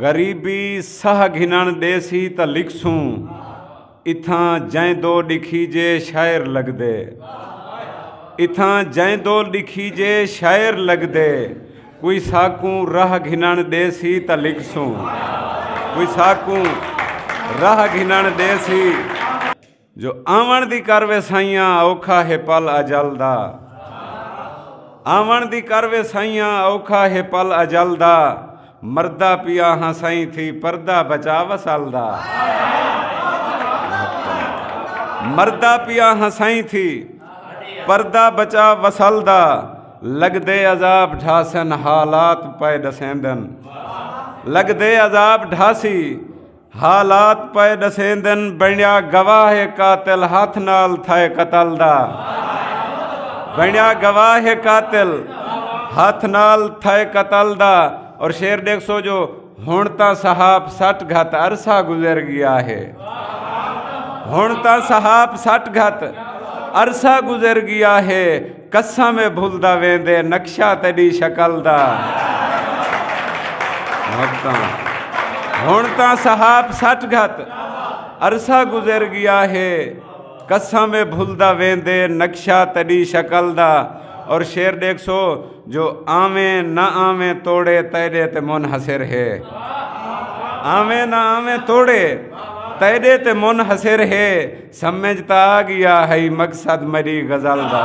غریبی سہہ گھنݨ ݙیسی تاں لکھسوں اتھاں جئیں دو ݙکھیجے شاعر لڳدے اتھاں جئیں دو ݙکھیجے شاعر لڳدے کوئی ساکوں راہ گھنݨ ݙیسی تاں لکھسوں کوئی ساکوں راہ گھنݨ ݙیسی جو آوݨ دی کر ویسائیاں اوکھا ہے پل اجل دا آوݨ دی کر ویسائیاں اوکھا ہے پل اجل دا مردہ پیا ہاں سائیں تھی پردہ بچا وسل دا مردہ پیا ہاں سائیں تھی پردہ بچا وسل دا لگ دے عذاب ڈھاسن حالات پائے دسیندن لگ دے عذاب ڈھاسی حالات پئے ڈسیندن بنیا گواہ قاتل ہاتھ نال تھائے قتل دا بنیا گواہ قاتل ہاتھ نال تھائے قتل دا اور شیر دیکھ سو جو ہن تا صحاب سٹ گھت عرصہ گزر گیا ہے ہن تا صحاب سٹ گھت عرصہ گزر گیا ہے قسم اے بھلدا ویندے نقشہ تیڈی شکل دا ہن تاں صحاب سٹ گھت عرصہ گزر گیا ہے قسم اے بھلدا ویندے نقشہ تیڈی شکل دا اور شیر ڈیکھ سو جو آویں نہ آویں توڑے تیڈے تے منحصر ہے آویں نہ آویں توڑے تیڈے تے منحصر ہے سمجھتا آ گیا ہے مقصد میری غزل دا